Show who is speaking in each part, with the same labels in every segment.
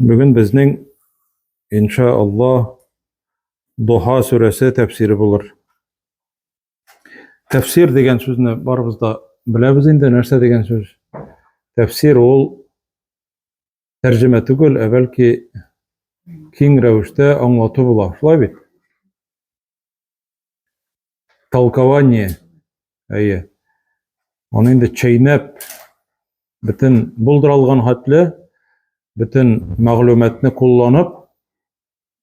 Speaker 1: Бүген безнең, инша Аллаһ, Духа сүрәсе тәфсире булыр. Тәфсир дигән сүзне барыбыз да беләбез инде, нәрсә дигән сүз? Тәфсир ул тәрҗемә түгел, ә бәлки киң рәвештә аңлату була. Шулай бит? Толкование. Әйе. Аны инде чәйнәп, бөтен булдыралган хәтле, бөтен мәгълүматны кулланып,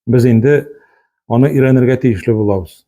Speaker 1: без инде аны өйрәнергә тиешле булабыз.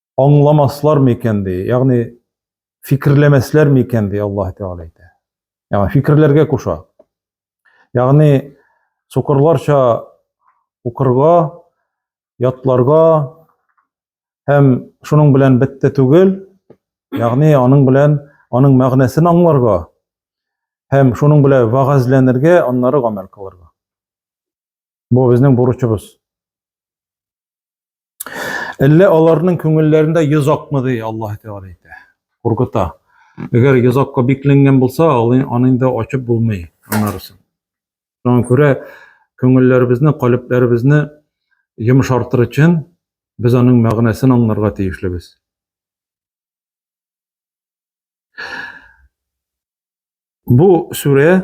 Speaker 1: аңламаслар микән ди, ягъни фикерләмәсләр микән ди Аллаһ Тәгалә әйтә. Ягъни фикерләргә куша. Ягъни сукырларча укырга, ятларга һәм шуның белән бетте түгел, ягъни аның белән аның мәгънәсен аңларга һәм шуның белән вагазләнергә, аннары гамәл кылырга. Бу безнең бурычыбыз. Әллә аларның күңелләрендә йөз акмы ди Аллаһ Тәгалә әйтә. Куркыта. Әгәр йөз акка бикләнгән булса, аны инде ачып булмый аннарысын. Шуңа күрә күңелләребезне, калебләребезне йомшартыр өчен без аның мәгънәсен аңларга тиешлебез. Бу сүрә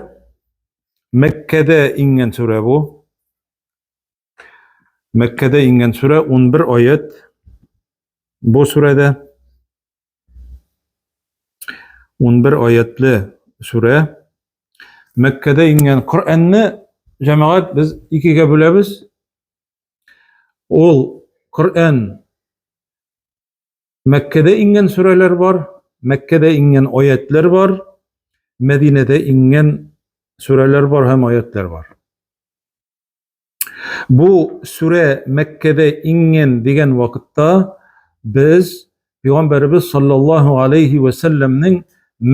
Speaker 1: Мәккәдә иңгән сүрә бу. Мәккәдә ингән сүрә 11 аят. Бу сүрәдә 11 аятлы сүрә. Мәккәдә ингән Коръәнне җәмәгать без икегә бүләбез. Ул Коръән Мәккәдә ингән сүрәләр бар, Мәккәдә ингән аятлар бар, Мәдинәдә ингән сүрәләр бар һәм аятлар бар. Бу сүрә Мәккәдә иңгән дигән вакытта без Пәйгамбәрбез саллаллаһу алейхи ва сәлләмнең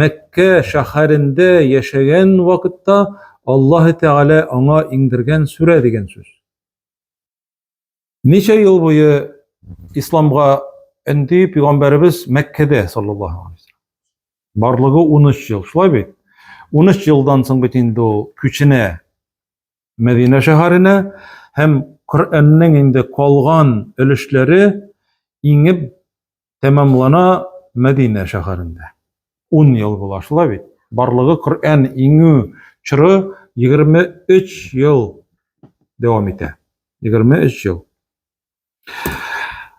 Speaker 1: Мәккә шәһәрендә яшәгән вакытта Аллаһы Тәгалә аңа иңдергән сүрә дигән сүз. Ничә ел буе исламга энди Пәйгамбәрбез Мәккәдә саллаллаһу алейхи ва сәлләм. Барлыгы 13 ел, шулай бит? 13 елдан соң бит инде ул күченә Мәдинә шәһәренә һәм Коръәннең инде калган өлешләре иңеп тәмамлана Мәдинә шәһәрендә. Ун ел була, шулай бит? Барлыгы Коръән иңү чоры 23 ел дәвам итә. 23 ел.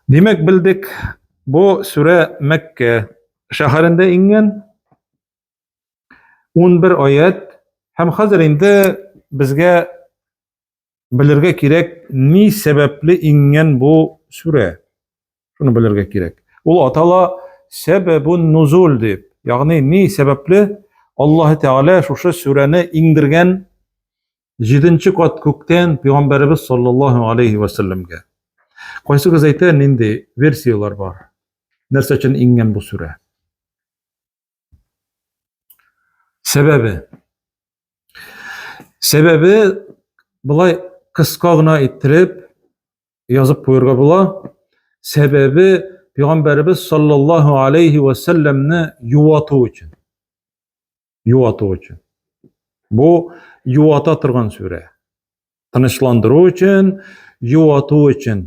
Speaker 1: Димәк, белдек, бу сүрә Мәккә шәһәрендә иңгән, 11 аят һәм хәзер инде безгә белергә кирәк ни сәбәпле иңгән бу сүрә шуны белергә кирәк ул атала сәбәбун нузул дип ягъни ни сәбәпле аллаһы тәгалә шушы сүрәне иңдергән җиденче кат күктән пәйгамбәребез саллаллаһу алейхи вәсәлләмгә кайсыгыз әйтә нинди версияләр бар нәрсә өчен иңгән бу сүрә Сәбәбе. Сәбәбе былай кыска гына иттереп язып куярга була. Сәбәбе Пәйгамбәрбез саллаллаһу алейхи ва салламны юату өчен. Юату өчен. Бу юата торган сүрә. Тынычландыру өчен, юату өчен.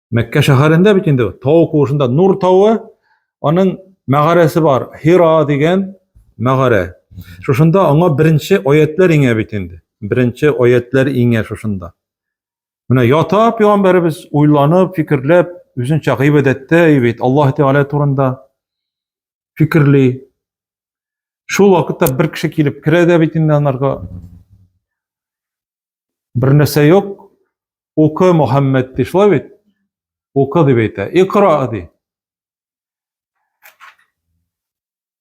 Speaker 1: Мәккә шәһәрендә бит инде тау куышында Нур тавы, аның мәгарәсе бар, Хира дигән мәгарә. Шушында аңа беренче аятлар иңә бит инде. Беренче аятлар иңә шушында. Менә ята пәйгамбәребез уйланып, фикерләп, үзенчә гыйбадәттә бит Аллаһ Тәгалә турында фикерли. Шул вакытта бер кеше килеп керә дә бит инде анарга. Бер нәрсә юк. Укы, Мөхәммәд, ди, шулай бит? Укы дип әйтә. Икра ди.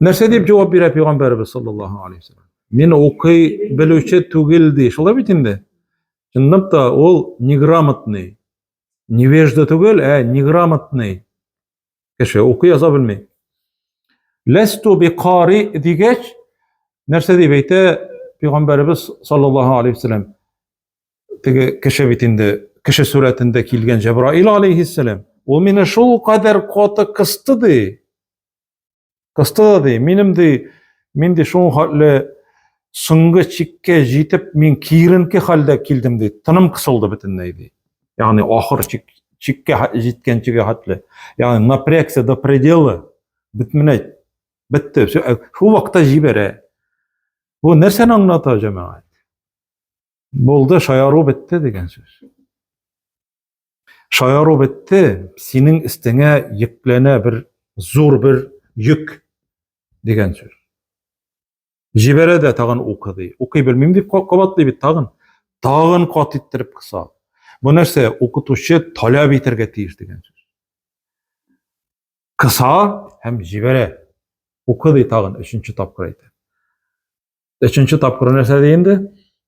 Speaker 1: Нәрсә дип җавап бирә пәйгамбәрбез саллаллаһу алейхи ва саллям? Мин укый белүче түгел ди. Шулай бит инде. Чынлап та ул неграмотный. Невежда түгел, ә неграмотный. Кеше укый яза белми. Ләсту би кари дигәч, нәрсә дип әйтә пәйгамбәребез саллаллаһу алейхи вәсәләм? Теге кеше бит инде кеше сурәтендә килгән Җәбраил алейхиссәләм. Ул мине шул кадәр каты кысты ди. Кысты да ди, минем ди, мин ди шул хәтле соңгы чиккә җитеп, мин киеренке хәлдә килдем ди. Тыным кысылды бөтенләй ди. Ягъни ахыр чик, чиккә җиткәнчегә хәтле. Ягъни напрягся до предела. Бетмәй. Бетте. Э, шул вакытта җибәрә. Бу нәрсәне аңлата җәмәгать? Булды, шаяру бетте дигән сүз. Шаяру бетте, синең өстеңә йөкләнә бер зур бер йөк дигән сүз. Җибәрә дә тагын укы ди. Укый белмим дип кабатлый бит тагын. Тагын кат иттереп кыса. Бу нәрсә? Укытучы таләп итәргә тиеш дигән сүз. Кыса һәм җибәрә. Укы ди тагын өченче тапкыр әйтә. Өченче тапкыр нәрсә ди инде?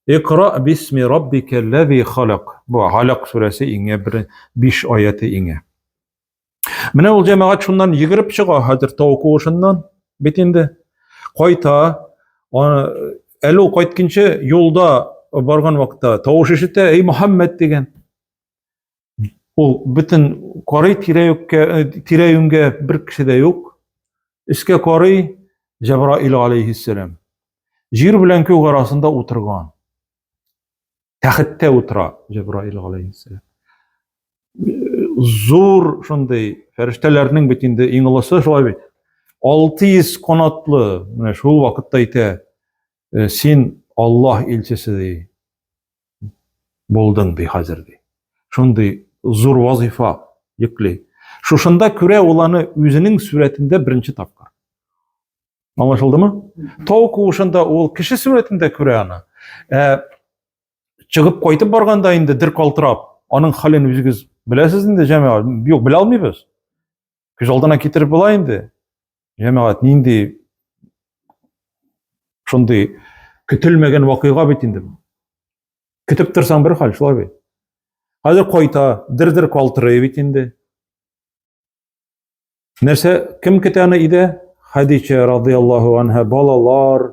Speaker 1: Икра бисми раббикаллази халак. Бу Халак сүрәсе иңе бер 5 аяты иңе. Менә ул җәмәгать шуннан йөгереп чыга хәзер тау куышыннан. Бит инде кайта. Әле ул кайтканчы юлда барган вакытта тавыш ишетә, "Эй Мөхәммәд" дигән. Ул бөтен карый тирә-юккә, э, тирә-юнгә бер кеше дә юк. Өскә карый Җәбраил алейхиссәлам. Җир белән күк арасында утырган. Тәхеттә утыра Җәбраил алейхиссәлам. Зур шундый фәрештәләрнең бит инде иң олысы шулай бит. 600 канатлы, менә шул вакытта әйтә, э, син Аллаһ илчесе ди. булдың, ди хәзер, ди. Шундый зур вазифа йөкле. Шушында күрә ул аны үзенең сурәтендә беренче тапкыр. Аңлашылдымы? Тау куышында ул кеше сурәтендә күрә аны. Ә, чыгып кайтып барганда инде дер калтырап, аның хәлен үзегез беләсез инде, җәмәгать. Юк, белә алмыйбыз. Күз алдына китереп була инде. Җәмәгать нинди шундый көтелмәгән вакыйга бит инде. Көтеп торсаң бер хәл, шулай бит. Хәзер кайта, дер-дер калтырый бит инде. Нәрсә, кем көтә аны өйдә? Хәдичә радиаллаһу анһа балалар,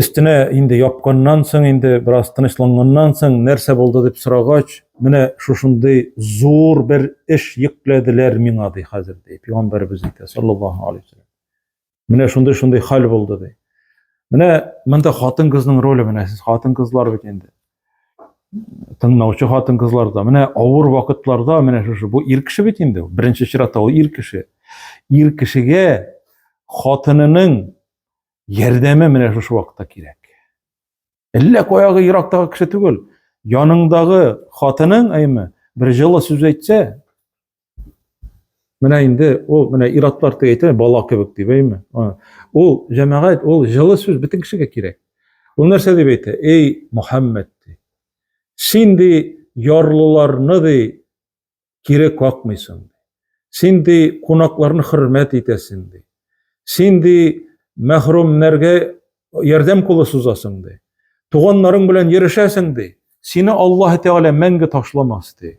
Speaker 1: Өстенә инде япканнан соң, инде бераз тынычланганнан соң, нәрсә булды дип сорагач, менә шушындый зур бер эш йөкләделәр миңа ди хәзер ди. Пәйгамбәрбез әйтә, саллаллаһу алейхи ва саллям. Менә шундый шундый хәл булды ди. Менә монда хатын-кызның роле менә сез хатын-кызлар бит инде. тыңлаучы хатын кызларда менә авыр вакытларда менә шушы бу ир кеше бит инде беренче чиратта ул ир кеше ир кешегә хатынының ярдәме менә шушы вакытта кирәк әллә каягы ерактагы кеше түгел яныңдагы хатының әйме бер җылы сүз әйтсә Менә инде ул менә иратлар дип әйтә, бала кебек дип әйме. Ул җәмәгать, ул җылы сүз бөтен кешегә кирәк. Ул нәрсә дип әйтә? Эй, Мөхәммәд ди. Син ди ярлыларны ди кире какмыйсың. Син ди кунакларны хөрмәт итәсең ди. Син ди мәхрүмнәргә ярдәм кулы сузасың ди. Туганнарың белән йөрешәсең ди. Сине Аллаһ Тәгалә мәңге ташламас ди.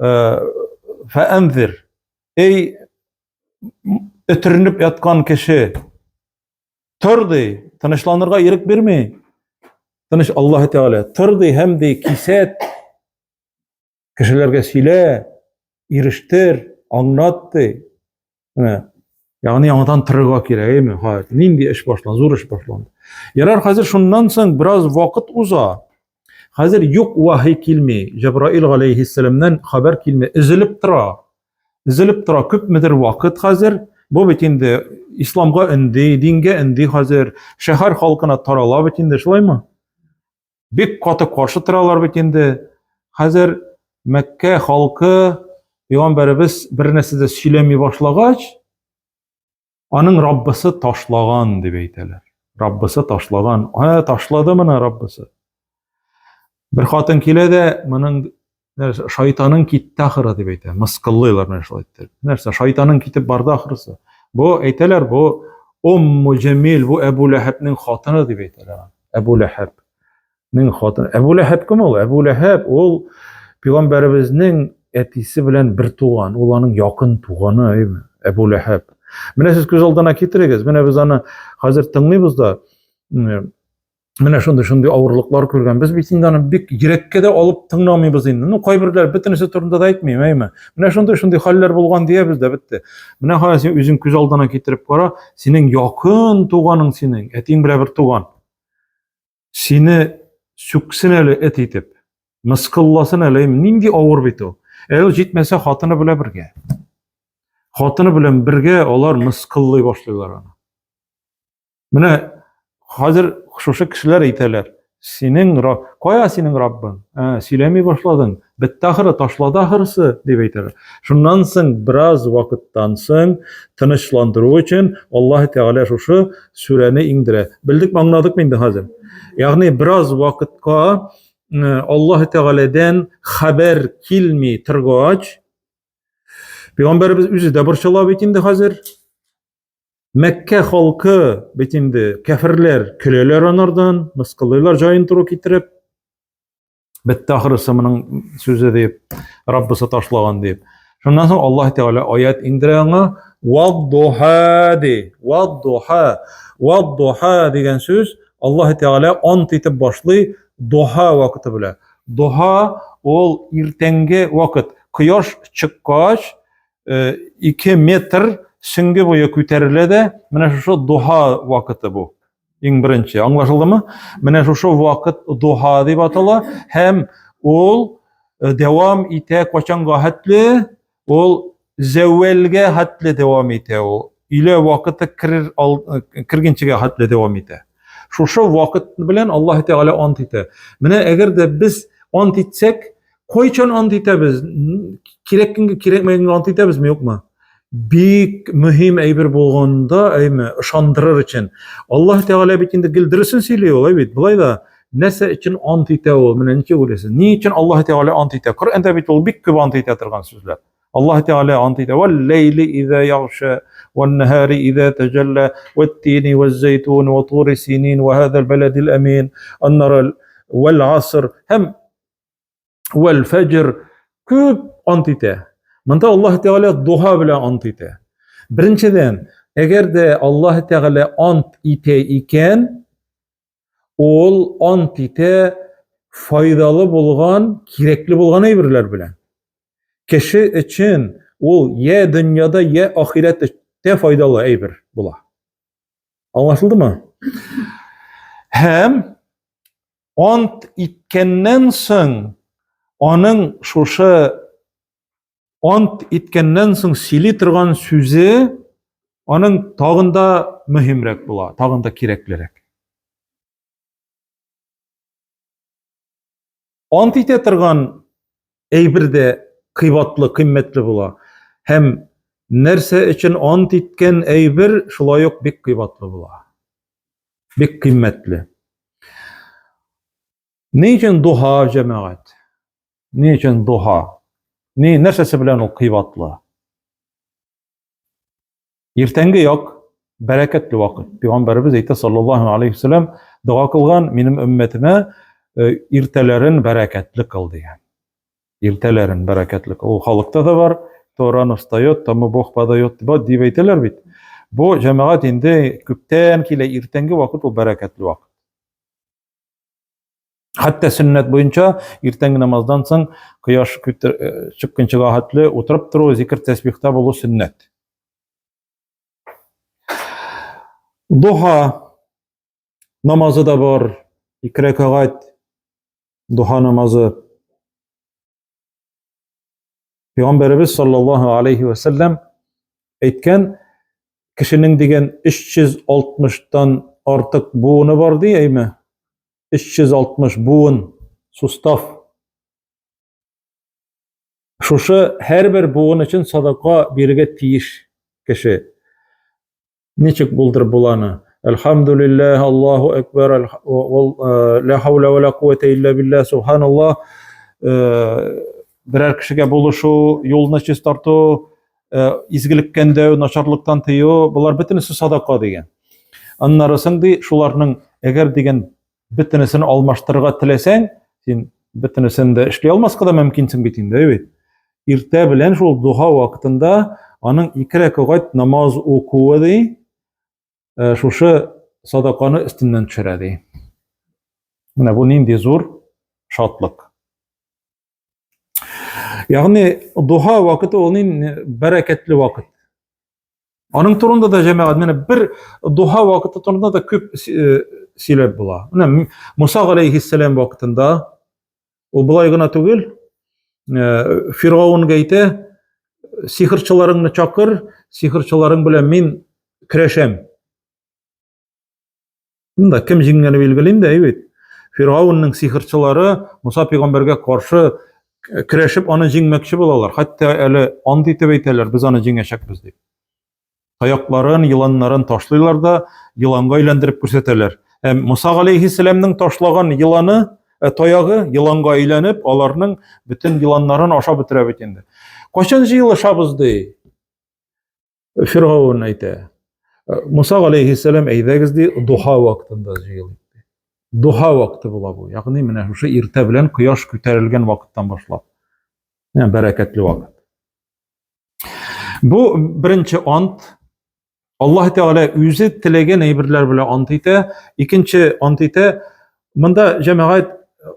Speaker 1: Э, Фәәнзир. Эй, өтеренеп яткан кеше, тор ди, тынычланырга ирек бирми. Тыныч Аллаһ Тәгалә, тор ди һәм ди, кисәт, кешеләргә сөйлә, ирештер, аңлат ди. Менә. Ягъни яңадан тырырга кирәк, әйме? Ха, нинди эш башланды? Зур эш башланды. Ярар, хәзер шуннан соң бераз вакыт уза. Хәзер юк вахи килми. Җабраил галәйһиссәламнән хәбәр килми, изелеп тора. Изелеп тора күпмедер вакыт хәзер. Бу бит инде исламга инде, дингә инде хәзер, шәһәр халкына тарала бит инде, шулаймы? Бик каты каршы торалар бит инде. Хәзер Мәккә халкы пәйгамбәребез бер нәрсә дә сөйләми башлагач, аның Раббысы ташлаган дип әйтәләр. Раббысы ташлаган. Ә ташлады моны Раббысы. Бер хатын килә дә, моның Нәрсә, шайтаның китте ахыры дип әйтә. Мыскыллыйлар менә шулай иттереп. Нәрсә, шайтаның китеп барды ахырысы. Бу әйтәләр, бу Умму Җәмил, бу Әбу Ләһәбнең хатыны дип әйтәләр. Әбу Ләһәбнең хатыны. Әбу Ләһәб кем ул? Әбу Ләһәб ул пәйгамбәребезнең әтисе белән бер туган, ул аның якын туганы, әйме? Әбу Ләһәб. Менә сез күз алдына китерегез. Менә без аны хәзер тыңлыйбыз да менә шундый шундый авырлыклар күргән без бит инде аны бик йөрәккә дә алып тыңламыйбыз инде ну кайберләр бөтенесе турында да әйтмим әйме менә шундый шундый хәлләр булган диябез дә бетте менә кара син үзең күз алдына китереп кара синең якын туганың синең әтиң белән бер туган сине сүксен әле эт итеп мыскылласын әле нинди авыр бит ул ә ул җитмәсә хатыны белән бергә хатыны белән бергә алар мыскыллый башлыйлар аны Менә хәзер шушы кешеләр әйтәләр, синең Раб, кая синең Раббың? Ә, сөйләми башладың. Бетте ахыры, ташлады ахырсы, дип әйтәләр. Шуннан соң бераз вакыттан соң тынычландыру өчен Аллаһ Тәгалә шушы сүрәне иңдерә. Белдек маңладык инде хәзер. Ягъни бераз вакытка э, Аллаһ Тәгаләдән хәбәр килми торгач, Пәйгамбәрбез үзе дә борчыла бит инде хәзер. Мәккә халкы бит инде кәферләр, көләләр анардан, мыскыллыйлар җаен туры китереп. Бетте ахрысы моның сүзе дип, Раббысы ташлаган дип. Шуннан соң Аллаһ Тәгалә аят индерә аңа, «Вад-духа» ди. «Вад-духа». «Вад-духа» дигән сүз Аллаһ Тәгалә ант итеп башлый духа вакыты белән. Духа ул иртәнге вакыт. Кояш чыккач, 2 метр сөнге буе күтәрелә дә, менә шушы духа вакыты бу. Иң беренче, аңлашылдымы? Менә шушы вакыт духа дип атала һәм ул Э, дәвам итә качанга хәтле ул зәвәлгә хәтле дәвам итә ул өйлә вакыты керер э, кергенчегә хәтле дәвам итә шушы вакыт белән аллаһ тәгалә ант итә менә әгәр дә без ант итсәк Кайчан ант итәбез? Кирәк көнгә, кирәкмәгәнгә ант итәбезме, юкмы? Бик мөһим әйбер булганда, әйме, ышандырыр өчен. Аллаһ Тәгалә бит инде гел дөресен сөйли ул, әйбит. Булай да, нәрсә өчен ант итә ул? Менә ничек уйлыйсыз? Ни өчен Аллаһ Тәгалә ант итә? Коръәндә бит ул бик күп ант итә торган сүзләр. Аллаһ Тәгалә ант итә. Вал лейли иза яхша, вал нахари иза таҗалла, ват тини ваз зайтун, ват тури синин, ва хадал баладил амин, аннарал вал аср. Һәм Вәл фәҗр күп ант итә. Монда Аллаһ Тәгалә дуга белән ант итә. Беренчедән, әгәр дә Аллаһ Тәгалә ант итә икән, ул ант итә файдалы булган, кирәкле булган әйберләр белән. Кеше өчен ул я дөньяда, я ахирәттә файдалы әйбер була. Аңлашылдымы? Һәм ант иткәннән соң, аның шушы ант иткәннән соң сөйли торган сүзе аның тагын да мөһимрәк була, тагын да кирәклерәк. Ант итә торган әйбер дә кыйбатлы, кыйммәтле була. Һәм нәрсә өчен ант иткән әйбер шулай ук бик кыйбатлы була. Бик кыйммәтле. Ни өчен духа, җәмәгать? Ни өчен духа? Ни, нәрсәсе белән ул кыйбатлы? Иртәнге як, бәрәкәтле вакыт. Пәйгамбәребез әйтә, саллаллаһу алейхи вәсәләм, дога кылган, минем өммәтемә э, иртәләрен бәрәкәтле кыл дигән. Иртәләрен бәрәкәтлек. Ул халыкта да бар. То рано встает, тому Бог подает. Дип әйтәләр бит. Бу җәмәгать инде күптән килә, иртәнге вакыт ул бәрәкәтле вакыт. Хәтта сөннәт буенча иртәнге намаздан соң кояш э, чыкканчыга хәтле утырып тору, зикр тәсбихта булу сөннәт. Духа Намазы да бар, ике рәкәгать духа намазы. Пәйгамбәребез саллаллаһу алейхи ва саллям әйткән, кешенең дигән 360-тан артык буыны бар ди, әйме? 360 буын, сустав. Шушы һәрбер буын өчен садака бирергә тиеш кеше. Ничек булдырып була аны? Әлхамдулиллаһ, Аллаһу акбар, ла хаула ва ла куввата илля билля, субханаллаһ. Берәр кешегә булышу, юлны чистарту, изгелектән дәү, начарлыктан тыю, булар бөтенесе садака дигән. Аннары соң ди, шуларның әгәр дигән Бөтенесен алмаштырырга теләсәң, син бөтенесен дә эшли алмаска да мөмкинсең бит инде, әйбәт. Иртә белән шул духа вакытында аның ике рәкәгать намаз укуы ди, э, шушы садаканы өстеннән төшерә ди. Менә бу нинди зур шатлык. Ягъни духа вакыты ул нинди бәрәкәтле вакыт. Аның турында да җәмәгать менә бер духа вакыты турында да күп сөйләп була. Менә Муса галәйһиссәлам вакытында ул болай гына түгел, Фиргаунга әйтә, сихирчыларыңны чакыр, сихирчыларың белән мин көрәшәм. Шунда кем җиңгәне билгеле инде, әйбит. Фиргаунның сихерчылары Муса пәйгамбәргә каршы көрәшеп аны җиңмәкче булалар. Хәтта әле ант итеп әйтәләр, без аны җиңәчәкбез дип. Таякларын, еланнарын ташлыйлар да, еланга әйләндереп күрсәтәләр. Ә Муса галәйһиссәламнең ташлаган еланы, ә таягы еланга әйләнеп, аларның бөтен еланнарын ашап бетерә бит инде. Качан җыелышабыз ди? Фиргавун әйтә, Муса алейхиссәлам әйдәгез ди, духа вакытында җыелыйк ди. Духа вакыты була бу. Ягъни менә шушы иртә белән кояш күтәрелгән вакыттан башлап. Менә бәрәкәтле вакыт. Бу беренче ант. Аллаһ Тәгалә үзе теләгән әйберләр белән ант итә. Икенче ант итә, Монда җәмәгать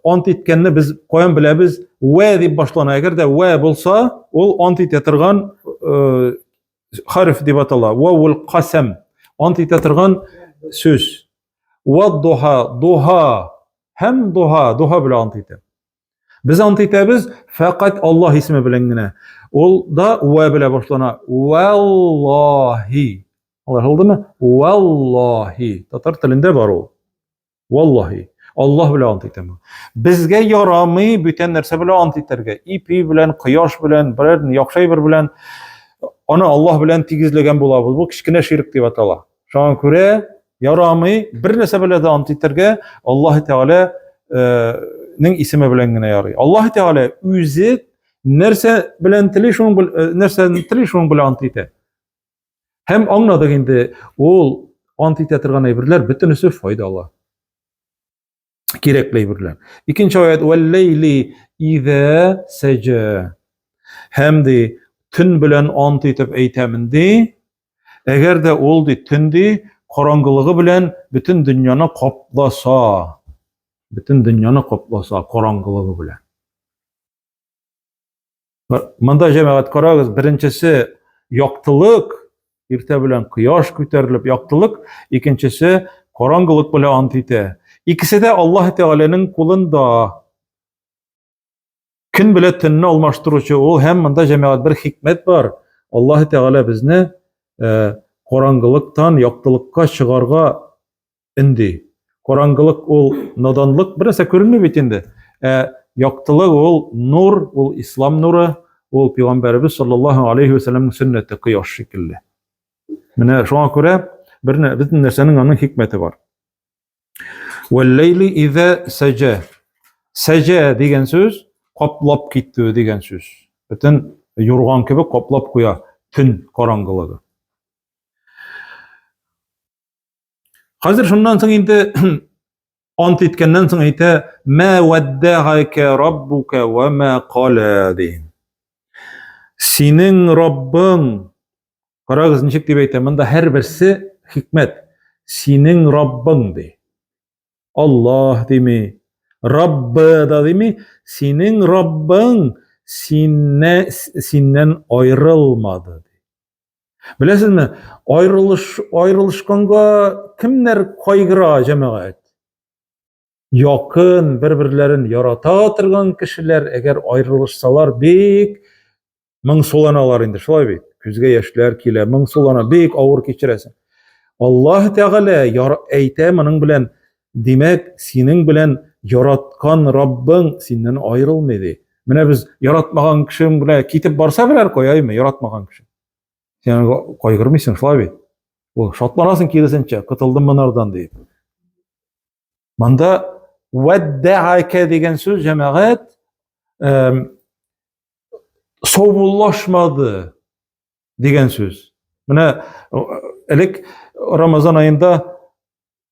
Speaker 1: ант иткәнне без каян беләбез? Вә дип башлана. Әгәр дә вә булса, ул ант итә торган э, хәреф дип атала. Ва ул касам. Ант итә торган сүз. Ва духа, духа. Һәм духа, духа белән ант итә. Без ант итәбез фәкать Аллаһ исеме белән генә. Ул да вә белән башлана. Валлаһи. Алар булдымы? Валлаһи. Татар телендә бар ул. Валлаһи. Аллаһ белән ант итәм. Безгә ярамый бүтән нәрсә белән ант итәргә. Ипи белән, кояш белән, берәр яхшы әйбер белән аны Аллаһ белән тигезләгән булабыз. Бу кечкенә ширк дип атала. Шуңа күрә ярамый бер нәрсә белән дә ант итәргә Аллаһ Тәгалә э, нең исеме белән генә ярый. Аллаһ Тәгалә үзе нәрсә белән тели шуның э, нәрсәне тели шуның белән ант итә. Һәм аңладык инде, ул ант итә торган әйберләр бөтенесе файдалы. Кирәкле әйберләр. Икенче аят вәлләйли изә сәҗә. Һәм ди төн белән ант итеп әйтәмен ди. Әгәр дә ул ди төн ди караңгылыгы белән бөтен дөньяны капласа, бөтен дөньяны капласа караңгылыгы белән. Монда җәмәгать карагыз, беренчесе яктылык, иртә белән кояш күтәрелеп яктылык, икенчесе караңгылык белән ант итә. Икесе дә Аллаһ Тәгаләнең кулында. Көн белән төнне алмаштыручы ул һәм монда җәмәгать бер хикмәт бар. Аллаһ Тәгалә безне караңгылыктан яктылыкка чыгарга Инде караңгылык ул наданлык, бернәрсә күренми бит инде. Ә яктылык ул нур, ул ислам нуры, ул пәйгамбәребез саллаллаһу алейхи ва сәлламның сөннәте кояш шикелле. Менә шуңа күрә бер бөтен нәрсәнең аның хикмәте бар. Вәлләйли изә сәҗә. Сәҗә дигән сүз каплап китү дигән сүз. Бөтен юрган кебек каплап куя төн караңгылыгы. Хәзер шуннан соң инде ант иткәннән соң әйтә, "Мә ваддагака раббука ва ма кала" ди. Синең Раббың Карагыз, ничек дип әйтә, монда һәрберсе хикмәт. Синең Раббың ди. Аллаһ дими, Раббы да дими, синең Раббың синне синнән аерылмады. Беләсезме, айрылыш, айрылышканга кемнәр кайгыра җәмәгать? Якын, бер-берләрен ярата торган кешеләр, әгәр айрылышсалар, бик моңсуланалар инде, шулай бит. Күзгә яшьләр килә, моңсулана, бик авыр кичерәсең. Аллаһ Тәгалә әйтә моның белән Димәк, синең белән яраткан Раббың синнән аерылмый ди. Менә без яратмаган кешең белән китеп барса берәр каяйме, яратмаган кеше. Сен кайгырмыйсың шулай бит. Ул шатланасың киресенчә, котылдым монардан ди. Монда вәддәәкә дигән сүз җәмәгать саубуллашмады дигән сүз. Менә элек Рамазан аенда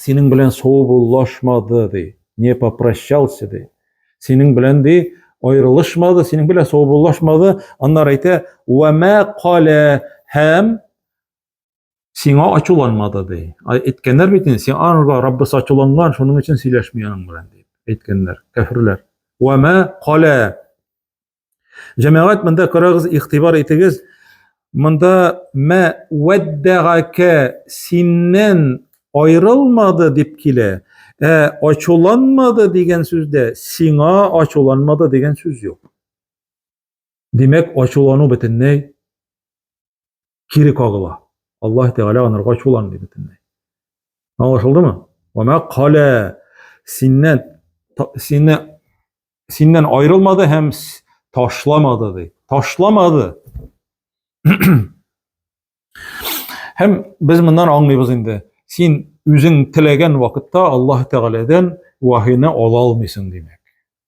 Speaker 1: синең белән саубуллашмады, ди, не попрощался, ди. Синең белән, ди, айрылышмады, синең белән саубуллашмады, аннар әйтә, вәмә калә һәм сиңа ачуланмады, ди. Әйткәннәр бит инде, сиңа анга Раббысы ачуланган, шуның өчен сөйләшми аның белән, дип әйткәннәр, кәферләр. Вәмә калә Җәмәгать, монда карагыз, игътибар итегез. Монда мә вәддәгәкә синнән айрылмады дип килә. Ә ачуланмады дигән сүздә сиңа ачуланмады дигән сүз юк. Димәк, ачулану бөтенләй кире кагыла. Аллаһ Тәгалә анырга чуланмый бөтенләй. Аңлашылдымы? Вама калә синнән сине синнән аерылмады һәм ташламады ди. Ташламады. Һәм без моннан аңлыйбыз инде. Син үзең теләгән вакытта Аллаһ Тәгаләдән вахины ала алмыйсың димәк.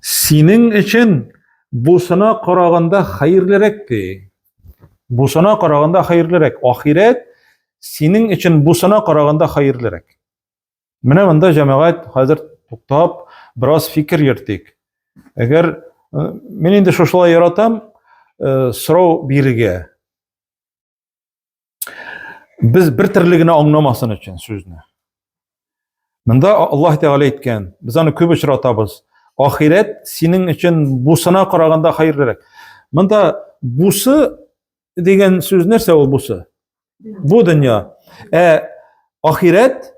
Speaker 1: Синең өчен бусына караганда хәерлерәк ди. Бусына караганда хәерлерәк. Ахирәт синең өчен бусына караганда хәерлерәк. Менә монда җәмәгать хәзер туктап, бераз фикер йөртик. Әгәр э, мин инде шушылай яратам, э, сорау бирергә. Без бер төрле генә аңламасын өчен сүзне. Монда Аллаһ Тәгалә әйткән, без аны күп очратабыз. Ахирәт синең өчен бусына караганда хәерлерәк. Монда бусы дигән сүз нәрсә ул бусы? Бу дөнья. Ә ахирәт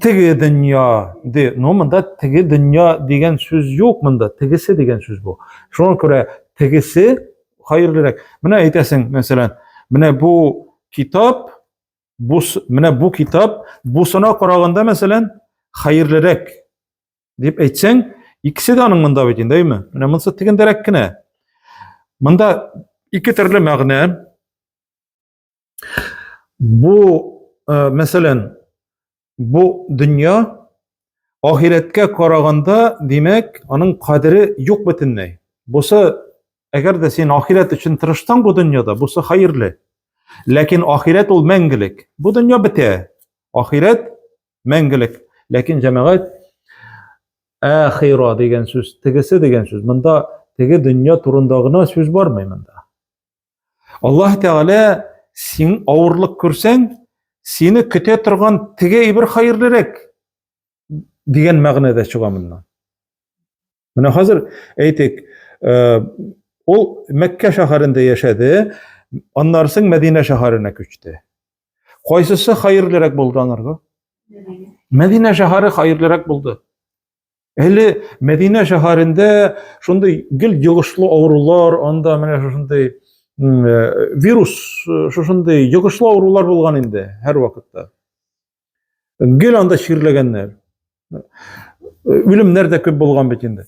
Speaker 1: Теге дөнья, ди. Ну, монда теге дөнья дигән сүз юк монда. Тегесе дигән сүз бу. Шуңа күрә тегесе хәерлерәк. Менә әйтәсең, мәсәлән, менә бу китап, бу менә бу китап бусына караганда, мәсәлән, хәерлерәк дип әйтсәң, икесе дә аның монда бит инде, әйме? Менә монысы тегендәрәк кенә. Монда ике төрле мәгънә. Бу, э, мәсәлән, бу дөнья ахирәткә караганда, димәк, аның кадере юк бөтенләй. Бусы, әгәр дә син ахирәт өчен тырыштың бу дөньяда, бусы хәерле. Ләкин ахирәт ул мәңгелек. Бу дөнья бетә. Ахирәт мәңгелек. Ләкин җәмәгать ахира дигән сүз, тегесе дигән сүз. Монда теге дөнья турында гына сүз бармый монда. Аллаһ Тәгалә син авырлык күрсәң, сине көтә торган теге әйбер хәерлерәк дигән мәгънәдә чыга моннан. Менә хәзер әйтик, э, ул Мәккә шәһәрендә яшәде, аннары соң Мәдинә шәһәренә күчте. Кайсысы хәерлерәк булды анарга? Мәдинә шәһәре хәерлерәк булды. Әле Мәдинә шәһәрендә шундый гел йогышлы авырулар, анда менә шушындый э, вирус, э, шушындый йогышлы авырулар булган инде һәр вакытта. Гел анда чирләгәннәр. Э, Үлемнәр дә күп булган бит инде.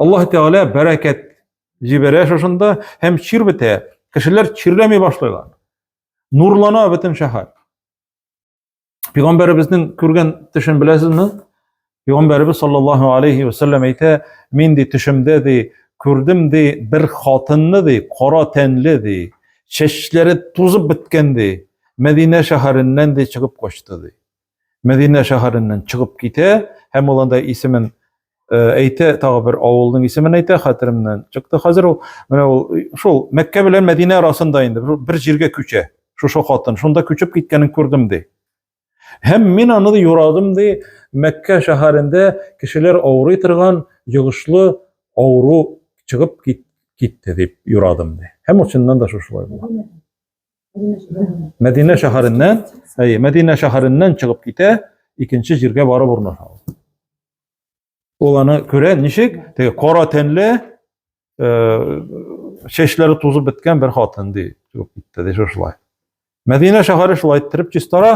Speaker 1: Аллаһ Тәгалә бәрәкәт җибәрә шушында һәм чир бетә. Кешеләр чирләми башлыйлар. Нурлана бөтен шәһәр. Пәйгамбәребезнең күргән төшен беләсезме? Пәйгамбәребез саллаллаһу алейхи ва саллям әйтә, мин ди төшемдә ди күрдем ди бер хатынны ди кара тәнле ди, чәчләре тузып беткән ди, Мәдинә шәһәреннән ди чыгып качты ди. Мәдинә шәһәреннән чыгып китә һәм ул анда исемен әйтә, тагы бер авылның исемен әйтә, хәтеремнән чыкты хәзер ул. Менә ул шул Мәккә белән Мәдинә арасында инде бер җиргә күчә. Шушы хатын шунда күчеп киткәнен күрдем ди. Һәм мин аны юрадым ди, Мәккә шәһәрендә кешеләр авырый торган йогышлы авыру чыгып китте дип юрадым ди. Һәм ул чыннан да шушылай була. Мәдинә шәһәреннән, әй, Мәдинә шәһәреннән чыгып китә, икенче җиргә барып урнаша. Ул аны күрә, ничек? Теге кара тәнле, чәчләре тузып беткән бер хатын ди, чыгып китте, ди шулай. Мәдинә шәһәре шулай иттереп чистара,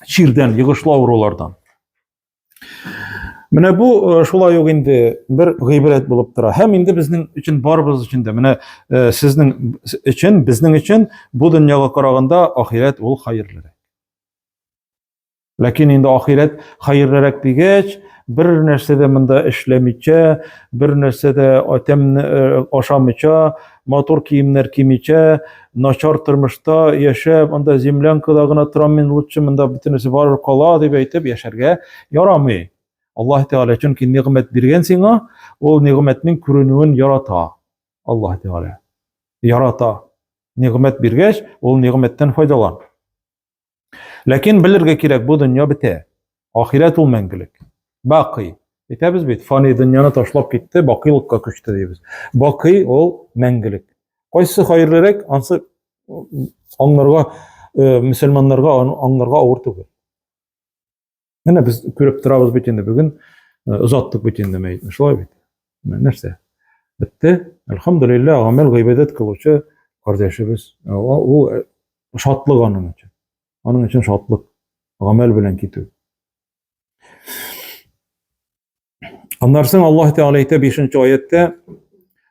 Speaker 1: чирдән, йогышлы авырулардан. Менә бу э, шулай ук инде бер гыйбрәт булып тора. Һәм инде безнең өчен барыбыз өчен дә менә э, сезнең өчен, безнең өчен бу дөньяга караганда ахирәт ул хәерлерәк. Ләкин инде ахирәт хәерлерәк дигәч, бер нәрсә дә монда эшләмичә, бер нәрсә дә атәмне э, ашамыйча, матур киемнәр кимичә, начар тормышта яшәп, анда землянкада гына торам мин лучше, монда бөтенесе барып кала дип әйтеп яшәргә ярамый. Аллаһ Тәгалә чөнки нигъмәт биргән сиңа, ул нигъмәтнең күренүен ярата. Аллаһ Тәгалә ярата. Нигъмәт биргәч, ул нигъмәттән файдалан. Ләкин белергә кирәк, бу дөнья бетә. Ахирәт ул мәңгелек. Бакый. Әйтәбез бит, фани дөньяны ташлап китте, бакыйлыкка күчте дибез. Бакый ул мәңгелек. Кайсы хәерлерәк, ансы аңларга, э, мөселманнарга аңларга авыр түгел. Менә без күреп торабыз бит инде бүген озаттык бит инде мәетне, шулай бит. Нәрсә? Бетте. Әлхәмдулилла, гамәл гыйбадәт кылучы кардәшебез. Ул шатлык аның өчен. Аның өчен шатлык. Гамәл белән китү. Аннан соң Аллаһ Тәгалә әйтә 5-нче аятта: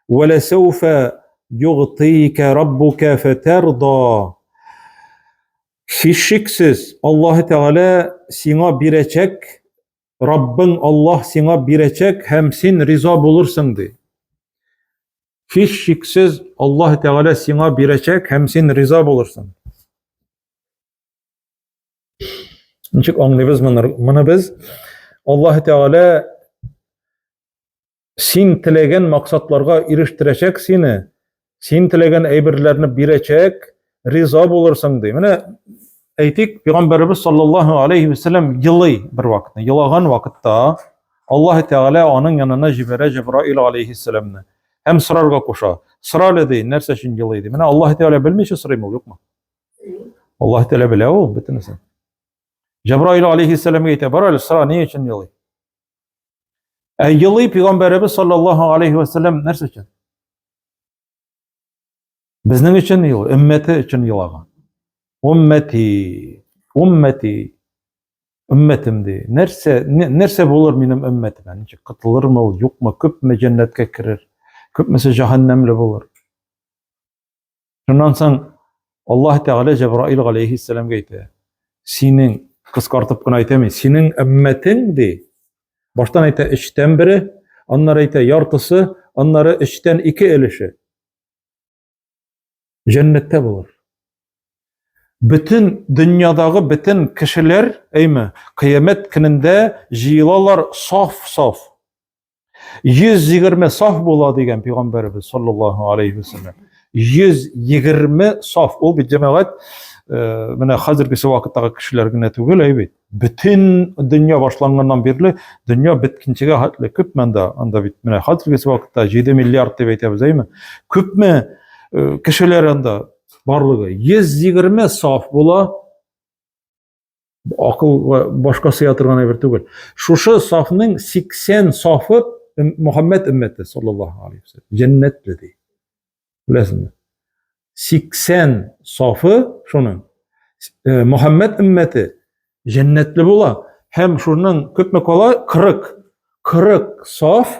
Speaker 1: "Ва ласауфа югтика раббука фатарда" Һичшиксез, Аллаһ Тәгалә сиңа бирәчәк, Раббың Аллаһ сиңа бирәчәк һәм син риза булырсың ди. Һичшиксез, Аллаһ Тәгалә сиңа бирәчәк һәм син риза булырсың. Ничек аңлыйбыз моны? Моны без Аллаһ Тәгалә син теләгән максатларга ирештерәчәк сине, син теләгән әйберләрне бирәчәк, риза булырсың ди. Менә әйтик, пәйгамбәребез саллаллаһу алейхи вәсәлләм елый бер вакытны, елаган вакытта Аллаһ Тәгалә аның янына җибәрә Җибраил алейхиссәламне һәм сорарга куша. Сорале ди, нәрсә өчен елый ди. Менә Аллаһ Тәгалә белмичә сорыймы, юкмы? Аллаһ Тәгалә белә ул бөтенесен. Җәбраил алейхиссәламгә әйтә, бар әле сора, ни өчен елый? Ә елый пәйгамбәребез саллаллаһу алейхи ва саллям нәрсә өчен? Безнең өчен ел, өммәте өчен елаган. Уммәти, уммәти, өммәтем ди. Нәрсә, нәрсә булыр минем өммәтемә? Ничек кытылырмы ул, юкмы, күпме җәннәткә керер, күпмесе җәһәннәмле булыр? Шуннан соң Аллаһ Тәгалә Җәбраил галәйһиссәламгә әйтә, синең, кыскартып кына әйтәм, синең өммәтең, ди, баштан әйтә өчтән бере, аннары әйтә яртысы, аннары өчтән ике өлеше. Җәннәттә булыр. Бөтен дөньядагы бөтен кешеләр, әйме, кыямәт көнендә җыелалар саф-саф. 120 саф була дигән пәйгамбәрбез саллаллаһу алейхи ва саллям. 120 саф ул бит җәмәгать э, менә хәзергесе вакыттагы кешеләр генә түгел әйбит. Бөтен дөнья башланганнан бирле дөнья биткенчегә хәтле күпме анда? Анда бит менә хәзергесе вакытта 7 миллиард дип әйтәбез әйме? Күпме э, кешеләр анда барлыгы 120 саф була. Акыл башка сыя торган әйбер түгел. Шушы сафның 80 сафы Мөхәммәд өммәте саллаллаһу алейхи ва саллям җәннәтле ди. Беләсезме? 80 сафы шуның э, Мөхәммәд өммәте җәннәтле була һәм шуның күпме кала 40 40 саф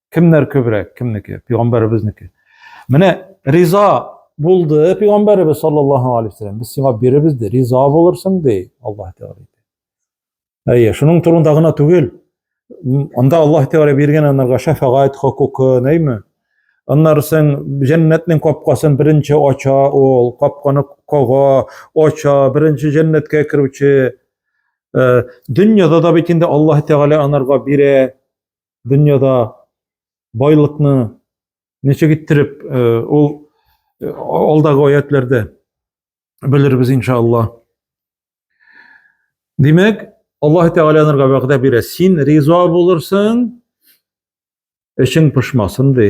Speaker 1: Кемнәр күбрәк, кемнеке? Пәйгамбәребезнеке. Менә риза булды пәйгамбәребез саллаллаһу алейхи вәсәлләм. Без сиңа биребез ди, риза булырсың ди, Аллаһ Тәгалә әйтә. Әйе, шуның турында гына түгел. Анда Аллаһ Тәгалә биргән анарга шәфәгать хокукы, нәйме? Аннарсын җәннәтнең капкасын беренче ача ул, капканы кага, ача, беренче җәннәткә керүче. Э, дөньяда да бит инде Аллаһ Тәгалә анарга бирә, дөньяда байлыкны ничек иттереп ул алдагы аятләрдә белербез иншалла. Димәк, Аллаһ Тәгалә нурга вәгъдә бирә. Син риза булырсың, эшең пошмасын ди.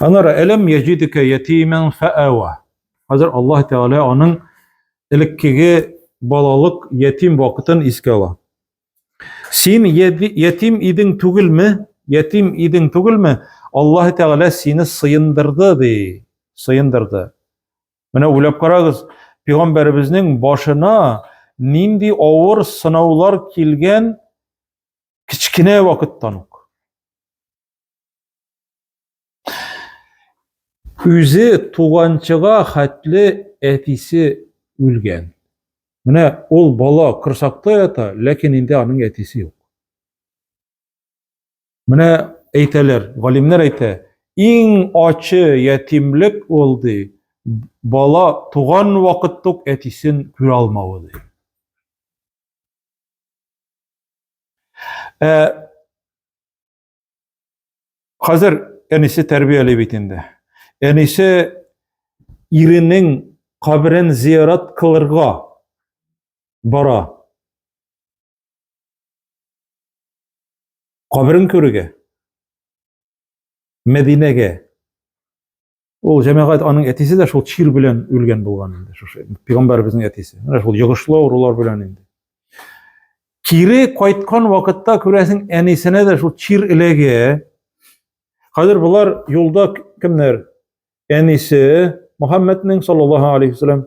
Speaker 1: Анара әлем яҗидекә ятимен фәәва. Хәзер Аллаһ Тәгалә аның элеккеге балалык ятим вакытын искә ала. Син ятим идең түгелме? Ятим идең түгелме? Аллаһ Тәгалә сине сыендырды ди. Сыендырды. Менә уйлап карагыз, пигамбәребезнең башына нинди авыр сынаулар килгән Кечкенә вакыттан ук. Үзе туганчыга хәтле әтисе үлгән. Менә ул бала кырсакта ята, ләкин инде аның әтисе юк. Менә әйтәләр, галимнәр әйтә, иң ачы ятимлек ул ди, бала туган вакыттук әтисен күрә алмавы ди. Ә, хәзер әнисе тәрбияли бит инде. Әнисе иренең каберен зиярат кылырга бара. Каберен күрергә. Мәдинәгә. Ул җәмәгать аның әтисе дә шул чир белән үлгән булган инде, шушы пигамбәребезнең әтисе. Менә шул йогышлы авырулар белән инде. Кире кайткан вакытта күрәсең, әнисенә дә шул чир эләгә. Хәзер болар юлда кемнәр? Әнисе Мөхәммәднең саллаллаһу алейхи вәсәлләм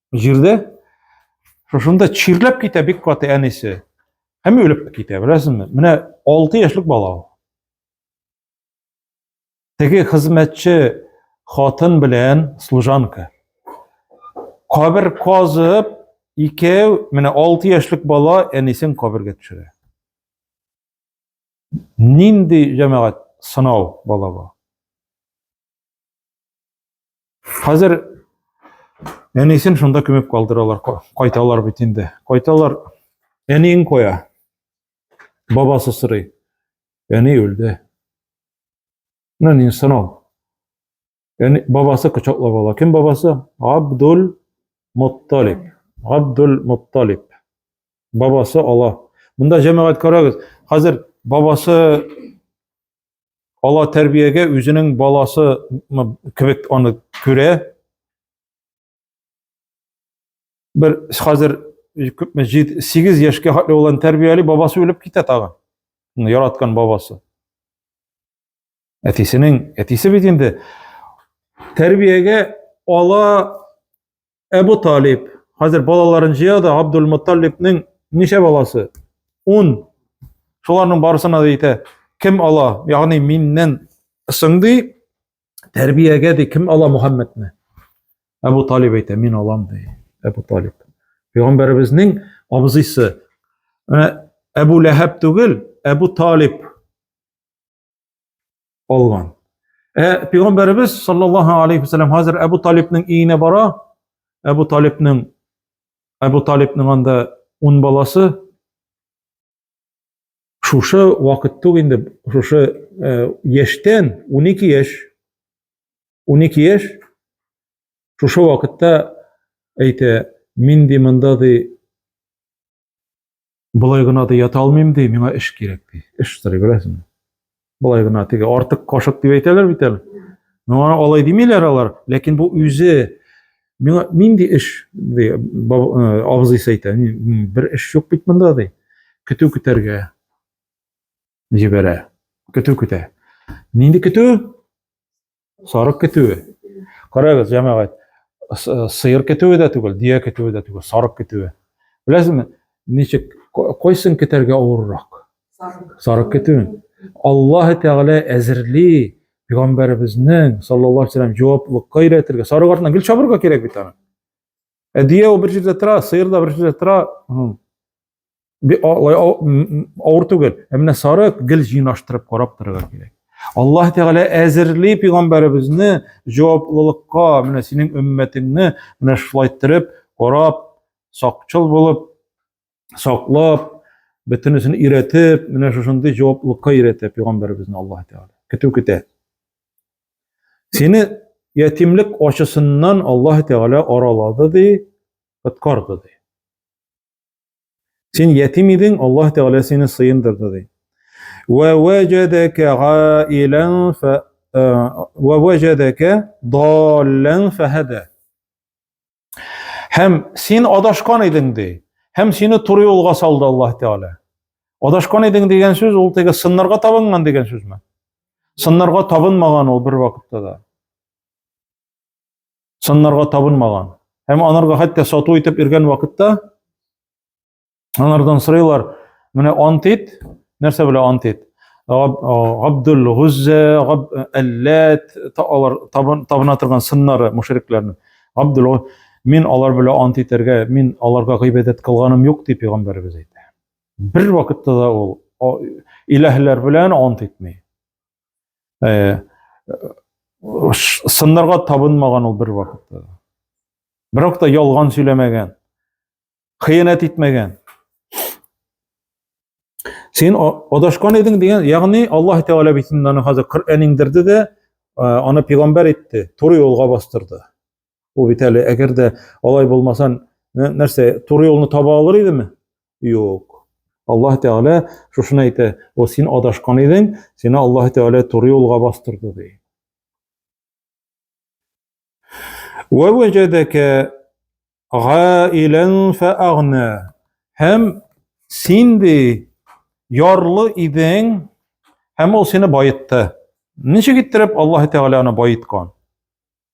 Speaker 1: Җирдә шушында чирләп китә бик каты әнисе. Һәм үлеп китә, беләсезме? Менә 6 яшьлек бала ул. Теге хезмәтче хатын белән служанка. Кабер казып, икәү, менә 6 яшьлек бала әнисен кабергә төшерә. Нинди җәмәгать сынау бала бу? Хәзер әнисен шунда күмеп калдыралар, кайталар бит инде. Кайталар, әниен куя. Бабасы сорый. Әни үлде. Ну, не сынау. Әни, бабасы кочаклап ала. Кем бабасы? Абдул Мутталиб. Абдул Мутталиб. Бабасы ала. Монда җәмәгать карагыз. Хәзер бабасы ала тәрбиягә үзенең баласы кебек аны күрә. Бер хәзер күпме 8 яшькә хәтле улын тәрбияли, бабасы үлеп китә тагы. Яраткан бабасы. Әтисенең, әтисе бит инде тәрбиягә ала Әбу Талиб. Хәзер балаларын җыя да Абдул Мутталибның ничә баласы? 10. Шуларның барысына да әйтә, кем ала? Ягъни миннән сыңды тәрбиягә ди кем ала Мухаммадны? Әбу Талиб әйтә, мин алам ди. Әбу Талиб. Пәйгамбәребезнең абзыйсы. Менә Әбу Ләһәб түгел, Әбу Талиб. алган. Ә пәйгамбәребез саллаллаһу алейхи ва саллям хәзер Әбу Талибның өенә бара. Әбу Талибның Әбу Талибның анда 10 баласы шушы вакыт түк инде шушы э, яшьтән 12 яшь 12 яшь шушы вакытта әйтә мин ди монда ди Болай гына да ята алмыйм ди, миңа эш кирәк ди. Эш сорый беләсеңме? Болай гына теге артык кашык дип әйтәләр бит әле. Миңа алай димиләр алар, ләкин бу үзе миңа нинди эш ди, абзыйс әйтә, бер эш юк бит монда ди. Көтү көтәргә җибәрә. Көтү көтә. Нинди көтү? Сарык көтүе. Карагыз, җәмәгать, сыер көтүе дә түгел, дия көтүе дә түгел, сарык көтүе. Беләсезме, ничек кайсын көтәргә авыррак? Сарык. Сарык көтүен. Аллаһ Тәгалә әзерли пәйгамбәребезнең саллаллаһу алейхи вәсәлләм җаваплылыкка өйрәтергә. Сарык артына гел чабырга кирәк бит аны. Ә дия ул бер җирдә тора, сыер да бер җирдә тора. алай авыр түгел. Ә менә сарык гел җыйнаштырып карап торырга кирәк. Аллаһ Тәгалә әзерли пигамбәребезне җаваплылыкка, менә синең өммәтеңне менә шулай торып, карап, сакчыл булып, саклап, бөтенесен өйрәтеп, менә шушындый җаваплылыкка өйрәтә пигамбәребезне Аллаһ Тәгалә. Көтү көтә. Сине ятимлек ачысыннан Аллаһ Тәгалә аралады ди, коткарды ди. Син ятим идең, Аллаһ Тәгалә сине сыендырды ди. Ва ваҗадака гаилан фа ва ваҗадака даллан фахада. Һәм син адашкан идең ди. Һәм сине туры юлга салды Аллаһ Тәгалә. Адашкан идең дигән сүз ул теге сыннарга табынган дигән сүзме? Сыннарга табынмаган ул бер вакытта да. саннарга табынмаган. Һәм анарга хәтта сату итеп иргән вакытта анардан сырыйлар, менә ант ит, нәрсә белә ант ит? Габдул Гузза, Габ Аллат, алар табына торган сыннары мушрикларның. Габдул мин алар белән ант итәргә, мин аларга гыйбадәт кылганым юк дип пәйгамбәрбез әйтә. Бер вакытта да ул иләһләр белән ант итми. Э, сыннарга табынмаган ул бер вакытта. Бер вакытта ялган сөйләмәгән, хыянәт итмәгән. Син адашкан идең дигән, ягъни Аллаһ Тәгалә бит инде аны хәзер Коръән иңдерде дә, аны пәйгамбәр итте, туры юлга бастырды. Ул бит әле әгәр дә алай булмасан, нәрсә, туры юлны таба алыр идеме? Юк. Аллаһ Тәгалә шушыны әйтә, "О син адашкан идең, сине Аллаһ Тәгалә туры юлга бастырды" ди. Ва ваҗадака гаилан фаагна. Һәм син ди ярлы идең, һәм ул сине баетты. Ничек иттереп Аллаһ Тәгалә аны баеткан?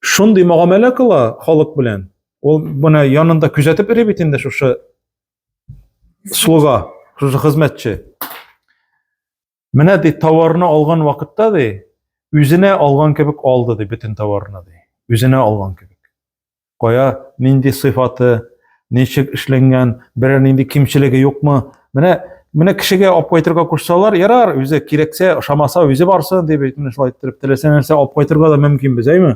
Speaker 1: шундый мөгамәлә кыла халык белән. Ул менә янында күзәтеп йөри бит инде шушы слуга, шушы хезмәтче. Менә ди товарны алган вакытта ди, үзенә алган кебек алды ди бөтен товарны ди. Үзенә алган кебек. Кая, нинди сыйфаты, Ничек эшләнгән, берәр нинди кимчелеге юкмы? Менә менә кешегә алып кайтырга кушсалар, ярар, үзе кирәксә, ошамаса, үзе барсын дип әйтмеш шулай иттереп теләсә нәрсә алып кайтырга да мөмкинбез, әйме?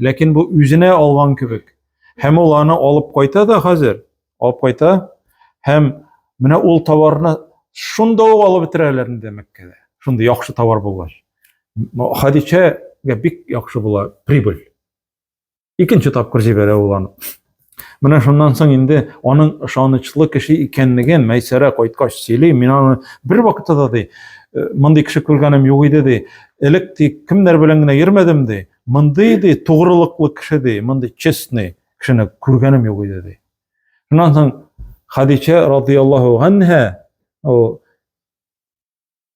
Speaker 1: Ләкин бу үзенә алган кебек. Һәм ул аны алып кайта да хәзер, алып кайта. Һәм менә ул товарны шунда ук алып бетерәләр инде Мәккәдә. Шундый яхшы товар булгач. Хадичәгә бик яхшы була прибыль. Икенче тапкыр җибәрә ул аны. Менә шуннан соң инде аның ышанычлы кеше икәнлеген Мәйсәрә кайткач сөйли. Мин аны бер вакытта да ди, «Э, мондый кеше күргәнем юк иде ди. Элек ди кемнәр белән генә йөрмәдем ди. Мондый ди тугрылыклы кеше ди, мондый честный кешене күргәнем юк иде ди. Шуннан соң Хадичә радияллаһу анһа ул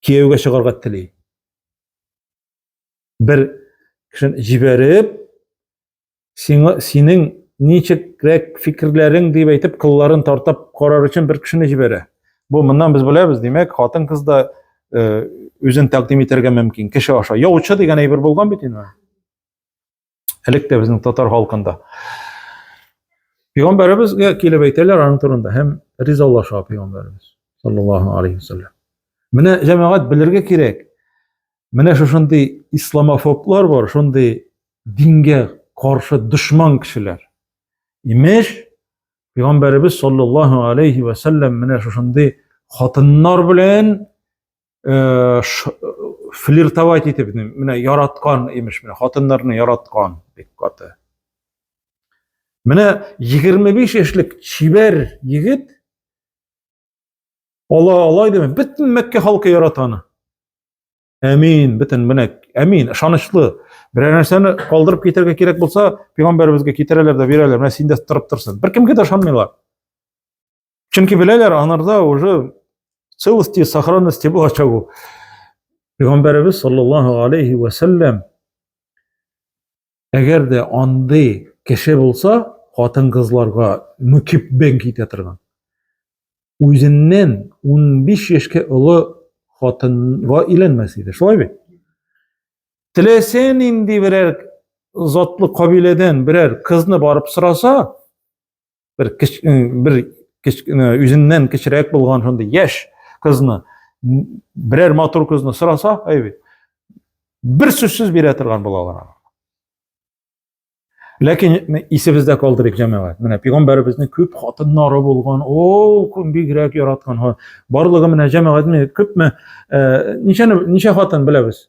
Speaker 1: кияүгә чыгарга тели. бер кешене җибәреп сиңа синең ничегрәк фикерләрең дип әйтеп кылларын тартып карар өчен бер кешене җибәрә бу моннан без беләбез димәк хатын кыз да э, үзен тәкъдим итәргә мөмкин кеше аша яучы дигән әйбер булган бит инде Әлек тә безнең татар халкында. Пигамбәребезгә килеп әйтәләр аның турында һәм ризалаша пигамбәребез саллаллаһу алейхи вассалам. Менә җәмәгать белергә кирәк. Менә шушындый исламофоблар бар, шундый дингә каршы дошман кешеләр. Имеш, пигамбәребез саллаллаһу алейхи вассалам менә шушындый хатыннар белән э, флиртовать итеп менә яраткан имеш менә хатыннарны яраткан бик каты менә 25 яшьлек чибәр егет ала алай диме бөтен мәккә халкы ярата аны әмин бөтен менә әмин ышанычлы берәр нәрсәне калдырып китәргә кирәк булса пәйгамбәребезгә китерәләр дә бирәләр менә синдә торып торсын беркемгә дә ышанмыйлар Чөнки беләләр, анарда уже целости, сохранности булачак ул. Пәйгамбәребез саллаллаһу алейхи ва саллям әгәр дә андый кеше булса, хатын-кызларга мөкиббен китә торган. Үзеннән 15 яшькә олы хатынга өйләнмәс иде. Шулай бит? Теләсә нинди берәр затлы кабиләдән берәр кызны барып сораса, бер кич, бер кич, үзеннән кечерәк булган шундый яшь кызны берәр матур кызны сораса, әйбит. Бер сүзсез бирә торган булалар. Ләкин исебездә калдырыйк җәмәгать. Менә пигамбәребезнең күп хатыннары булган, ул күн бигрәк яраткан. Барлыгы менә җәмәгатьне күпме, ничә ничә хатын беләбез?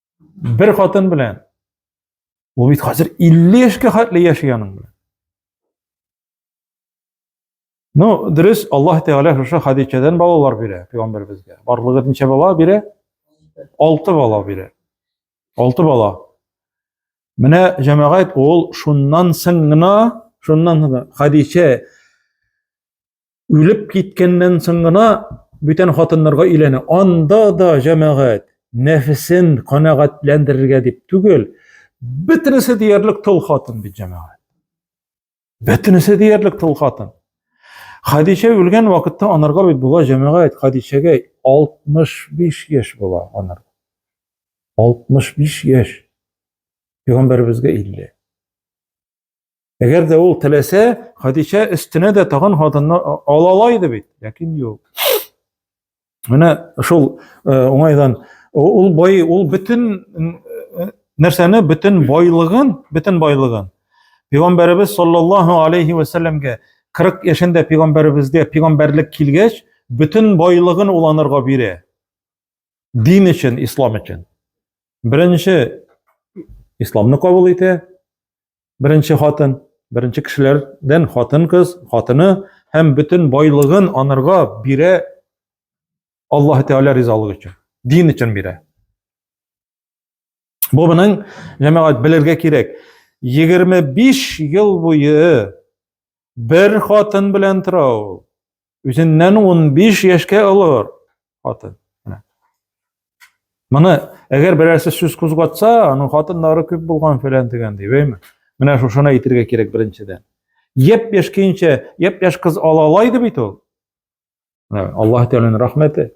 Speaker 1: Бер хатын белән. Ул бит хәзер 50 яшькә хәтле яши аның белән. Ну, дөрес, Аллаһ Тәгалә шушы Хадичәдән балалар бирә пәйгамбәребезгә. Барлыгы ничә бала бирә? 6 бала бирә. 6 бала. Менә җәмәгать ул шуннан соң гына, шуннан гына Хадичә Үлеп киткәннән соң гына бүтән хатыннарга өйләнә. Анда да җәмәгать нәфесен канәгатьләндерергә дип түгел, бөтенесе диярлек тол хатын бит җәмәгать. Бөтенесе диярлек тол хатын. Хадичә үлгән вакытта анарга бит була җәмәгать Хадичәгә 65 яшь була анар. 65 яшь. Пәйгамбәребезгә 50. Әгәр дә ул теләсә, Хәдичә өстенә дә тагын хатынны ала ала иде бит, ләкин юк. Менә шул уңайдан ул бай, ул бөтен нәрсәне, бөтен байлыгын, бөтен байлыгын Пәйгамбәребез саллаллаһу алейхи ва салламга 40 яшендә пәйгамбәребезгә пәйгамбәрлек килгәч, бөтен байлыгын уланырга бирә. дин өчен, ислам өчен. Беренче исламны кабул итә, беренче хатын, беренче кешеләрдән хатын кыз, хатыны һәм бөтен байлыгын анырга бирә Аллаһ Тәгалә ризалыгы өчен, дин өчен бирә. Бу моның җәмәгать белергә кирәк. 25 ел буе бер хатын белән тора ул. Үзеннән 15 яшькә олор хатын. Моны әгәр берәрсе сүз кузгатса, аның хатыннары күп булган фәлән дигән дип, әйме? Менә шушыны әйтергә кирәк беренчедән. Яп-яшь көенчә, яп-яшь кыз алалайды бит ул. Аллаһ Тәгаләнең рәхмәте.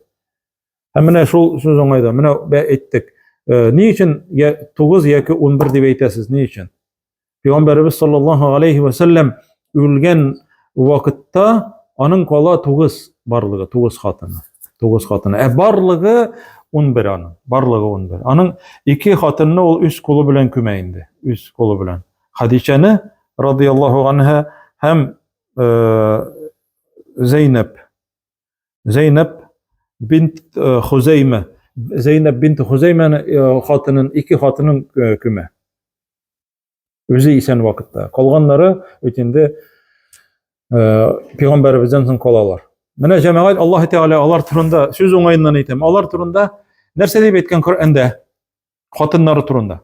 Speaker 1: Һәм менә шул сүз уңайда, менә бә әйттек. Э, ни өчен 9 яки 11 дип әйтәсез? Ни өчен? Пәйгамбәрбез саллаллаһу алейхи ва саллям үлгән вакытта аның кала 9 барлыгы, 9 хатыны. 9 хатыны. Ә барлыгы 11 аның. Барлыгы 11. Аның ике хатынны ул үз кулы белән күмә инде. Үз кулы белән. Хадичәне радияллаһу анһа һәм э, Зәйнәп. Зәйнәп бинт э, Хузәймә. Зәйнәп бинт Хузәймәне э, хатынын, ике хатынын э, көмә. Үзе исән вакытта. Калганнары бит инде пәйгамбәребездән соң калалар. Менә җәмәгать Аллаһ Тәгалә алар турында сүз уңаеннан әйтәм. Алар турында нәрсә дип әйткән Коръәндә? Хатыннары турында.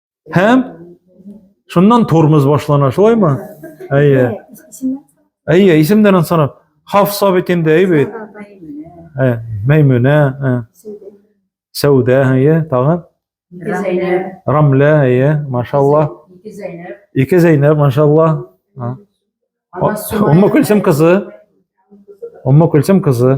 Speaker 1: Һәм шуннан тормоз башлана, шулаймы? Әйе. Әйе, исемдән ансанап. Хафса бит инде, әйе бит. Ә, Мәймүнә, ә. Сәүдә, әйе, тагын. Зәйнәп. Рамлә, әйе, машалла. Ике Зәйнәп. Ике Зәйнәп, машалла. Умма Күлсем кызы. Умма Күлсем кызы.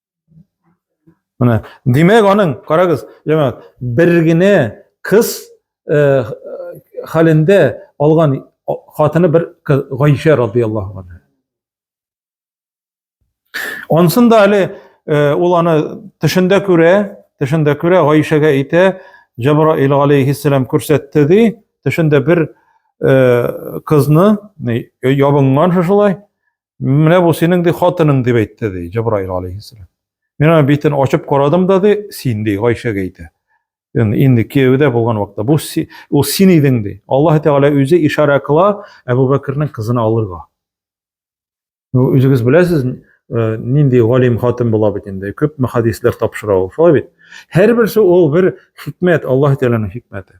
Speaker 1: Менә, димәк, аның, карагыз, җәмәгать, бер генә кыз э, хәлендә алган хатыны бер Гайшә радияллаһу анһа. Ансын да әле э, ул аны төшендә күрә, төшендә күрә Гайшәгә әйтә, Җабраил алейһиссалам күрсәтте ди, төшендә бер э, кызны ябынган шушылай, Менә бу синең ди хатының дип әйтте ди Җабраил алейхиссалам. Мин аны битен ачып карадым да ди, син ди Гайшәгә әйтә. Инде кияүдә булган вакытта бу ул син идең ди. Аллаһ Тәгалә үзе ишарә кыла Әбу Бәкернең кызын алырга. Үзегез беләсез, э, нинди галим хатын була бит инде. Күпме хадислар тапшыра ул, шулай бит. Һәрберсе ул бер хикмәт, Аллаһ Тәгаләнең хикмәте.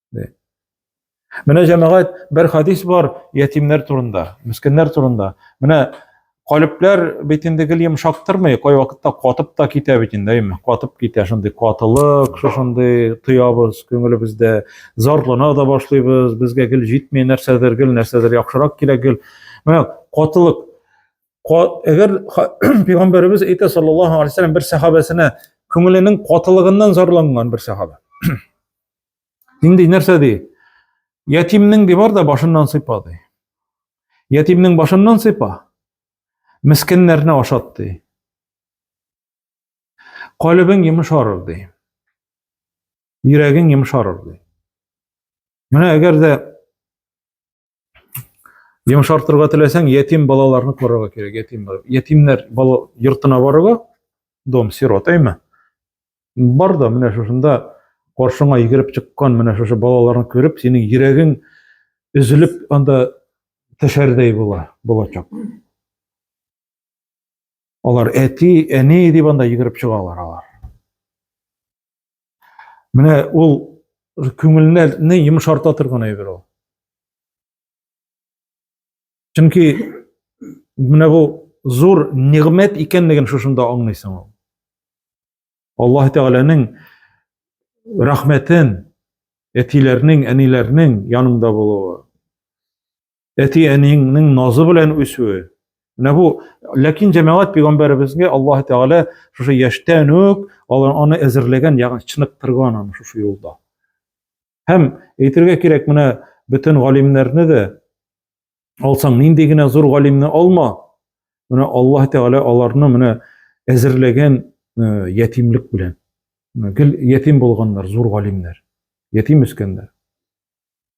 Speaker 1: Менә җәмәгать бер хадис бар ятимнәр турында, мескеннәр турында. Менә калепләр бит инде гел йомшактырмый, кай вакытта катып та китә бит инде, әйме? Катып китә шундый катылык, шушындый тоябыз күңелебездә, зарлана да башлыйбыз, безгә гел җитми нәрсәдер, гел нәрсәдер яхшырак кирәк гел. Менә катылык. Әгәр пәйгамбәребез әйтә саллаллаһу алейһи ва бер сахабәсенә күңеленең катылыгыннан зарланган бер сахаба. Нинди нәрсә ди? Ятимнең ди бар да башыннан сыйпа ди. Ятимнең башыннан сыйпа. Мескеннәрне ашат ди. Калыбың йомшарыр ди. Йөрәгең йомшарыр ди. Менә әгәр дә Йомшартырга теләсәң, ятим балаларны карарга кирәк, ятимнәр. Ятимнәр бала йортына барырга, дом сирот, әйме? Бар да менә шушында каршыңа йөгереп чыккан менә шушы балаларны күреп, синең йөрәгең өзелеп анда төшәрдәй була, булачак. Алар әти, әни дип анда йөгереп чыгалар алар. Менә ул күңелне йомшарта торган әйбер ул. Чөнки менә бу зур нигъмәт икәнлеген шушында аңлыйсың ул. Аллаһ Тәгаләнең рәхмәтен, әтиләрнең, әниләрнең янында булуы. әти-әниеңнең назы белән үсүе. Менә бу, ләкин җәмәгать пәйгамбәребезгә Аллаһ Тәгалә шушы яшьтән үк алар аны әзерләгән, ягъни чыныктырган аны шушы юлда. Һәм әйтергә кирәк, менә бөтен галимнәрне дә алсаң, нинди генә зур галимне алма, менә Аллаһ Тәгалә аларны менә әзерләгән э, ятимлек белән. Гел ятим булганнар, зур галимнәр, ятим үскәннәр.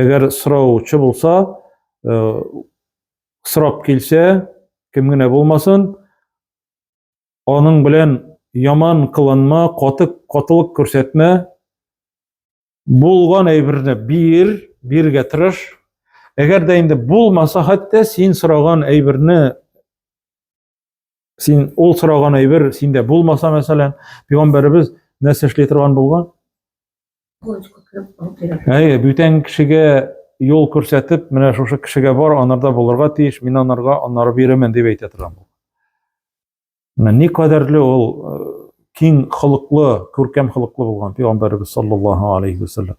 Speaker 1: Әгәр сораучы булса, э, сорап килсә, кем генә булмасын, аның белән яман кыланма, каты катылык күрсәтмә, булган әйберне бир, биргә тырыш. Әгәр дә инде булмаса, хәтта син сораган әйберне Син ул сораган әйбер синдә булмаса, мәсәлән, пәйгамбәребез нәрсә эшли торган булган? Әйе, бүтән кешегә юл күрсәтеп, менә шушы кешегә бар, анарда булырга тиеш, мин анарга анары бирәмен дип әйтә торган бу. Менә ни кадәрле ул э, киң холыклы, күркәм холыклы булган пәйгамбәрбез саллаллаһу алейхи ва саллям.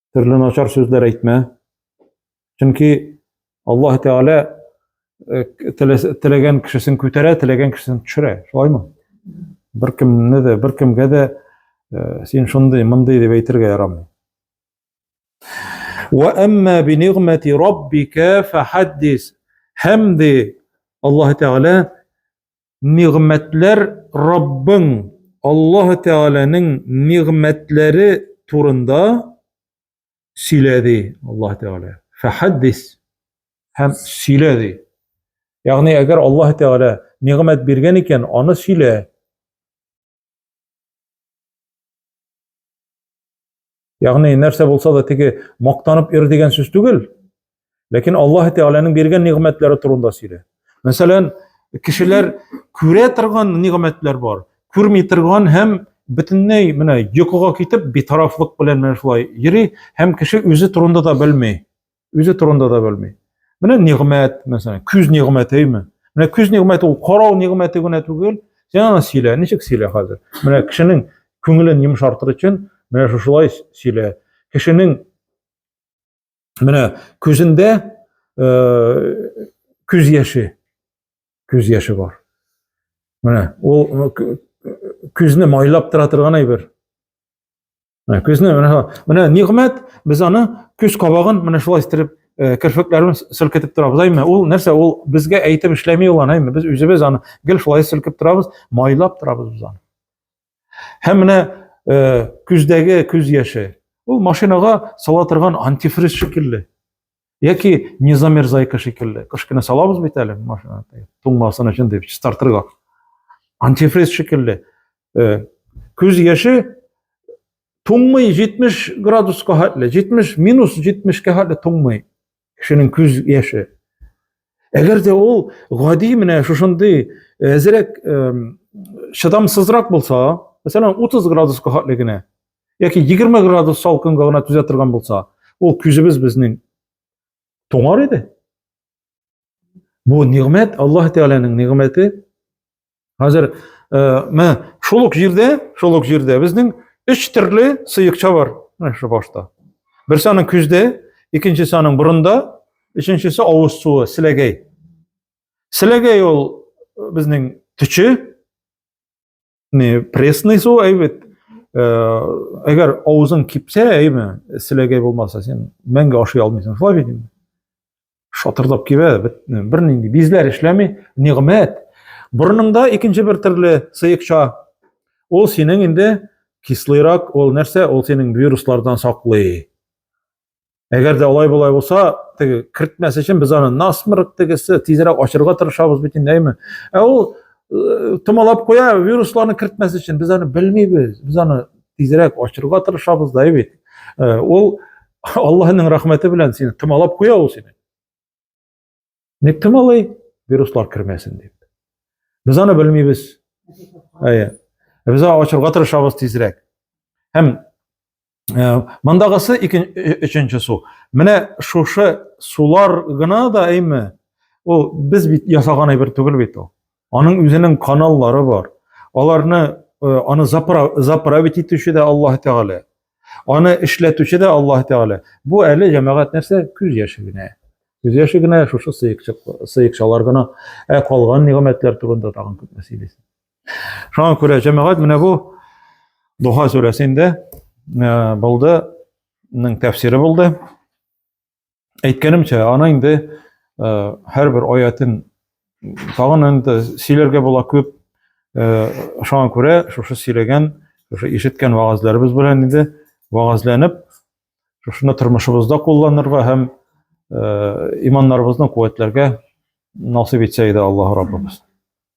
Speaker 1: төрле начар сүзләр әйтмә. Чөнки Аллаһ Тәгалә э, теләгән кешесен күтәрә, теләгән кешесен төшерә. Шулаймы? Беркемне дә, беркемгә дә э, син шундый, мондый дип әйтергә ярамый. Ва амма би нигъмати раббика фахаддис. Һәм ди Аллаһ Тәгалә Нигъмәтләр Раббың Аллаһ Тәгаләнең нигъмәтләре турында сөйләде Аллаһ Тәгалә. Фәхәддис һәм сөйләде. Ягъни әгәр Аллаһ Тәгалә нигъмәт биргән икән, аны сөйлә. Ягъни нәрсә булса да теге мактанып ир дигән сүз түгел. Ләкин Аллаһ Тәгаләнең биргән нигъмәтләре турында сөйлә. Мәсәлән, кешеләр күрә торган нигъмәтләр бар, күрми торган һәм бөтенләй менә йокыга китеп битарафлык белән менә шулай йөри һәм кеше үзе турында да белми. үзе турында да белми. Менә нигъмәт, мәсәлән, күз нигъмәтеме? Менә күз нигъмәте ул карау нигъмәте генә түгел. Син аны сөйлә, ничек сөйлә хәзер? Менә кешенең күңелен йомшартыр өчен менә шушылай сөйлә. Кешенең менә күзендә күз яше, күз яше бар. Менә ул күзне майлап тора торган әйбер. Менә көзне менә шулай. Менә нигъмәт, без аны көз кабагын менә шулай истереп, э, керфекләрен селкетеп торабыз. Әйме, ул нәрсә? Ул безгә әйтеп эшләми ул аны, әйме. Без үзебез аны гел шулай селкеп торабыз, майлап торабыз без аны. Һәм менә э, көздәге көз яше. Ул машинага сала торган антифриз шикелле. Яки не замерзайка шикелле. Кыш көне салабыз бит әле машина туңмасын өчен дип стартерга. Антифриз шикелле. Э, күз яше туңмый 70 градуска хәтле, 70 минус 70-кә хәтле туңмый кешенең күз яше. Әгәр дә ул гади менә шушындый әзрәк э, э, чыдамсызрак булса, мәсәлән 30 градуска хәтле генә яки 20 градус салкынга гына түзә торган булса, ул күзебез безнең туңар иде. Бу нигъмәт, Аллаһ Тәгаләнең нигъмәте. Хәзер э, мә шул ук җирдә, шул ук җирдә безнең өч төрле сыекча бар, менә шу башта. Берсе аның күздә, икенчесе аның борында, өченчесе авыз суы, силәгәй. Силәгәй ул э, безнең төче, не пресный су әйбәт әгәр авызың кипсә әйме селәгәй булмаса сен мәңге ашый алмыйсың шулай бит инде шатырдап кибә бернинди бизләр эшләми нигъмәт борыныңда икенче бер төрле сыекча ул синең инде кислыйрак ул нәрсә ул синең вируслардан саклый Әгәр дә алай болай булса, теге кертмәс өчен без аны насмырк тегесе тизрәк ачырга тырышабыз бит инде, әйме? Ә ул э, томалап куя, вирусларны кертмәс өчен без аны белмибез. Без аны тизрәк ачырга тырышабыз да бит. Э, ул Аллаһның рәхмәте белән сине томалап куя ул сине. Ник кем алай вируслар кермәсен дип. Без аны белмибез. Әйе. Без аны ачырга тырышабыз тизрәк. Һәм э, мондагысы икенче өченче су. Менә шушы сулар гына да әйме? Ул без бит ясаган әйбер түгел бит ул. Аның үзенең каналлары бар. Аларны э, аны заправить итүче дә Аллаһ Тәгалә. Аны эшләтүче дә Аллаһ Тәгалә. Бу әле җәмәгать нәрсә? Күз яше генә. Күз яше генә шушы сыекчалар гына. Ә калган нигъмәтләр турында тагын күпме сөйлисең. Шуңа күрә җәмәгать менә бу Духа сүрәсендә э, булды, тәфсире булды. әйткәнемчә, аны инде һәрбер аятын тагын инде сөйләргә була күп. Шуңа күрә шушы сөйләгән, шушы ишеткән вагазларыбыз белән инде вагазланып, шушыны тормышыбызда кулланырга һәм иманнарыбызны куәтләргә насыйп итсә иде Аллаһ Раббыбыз.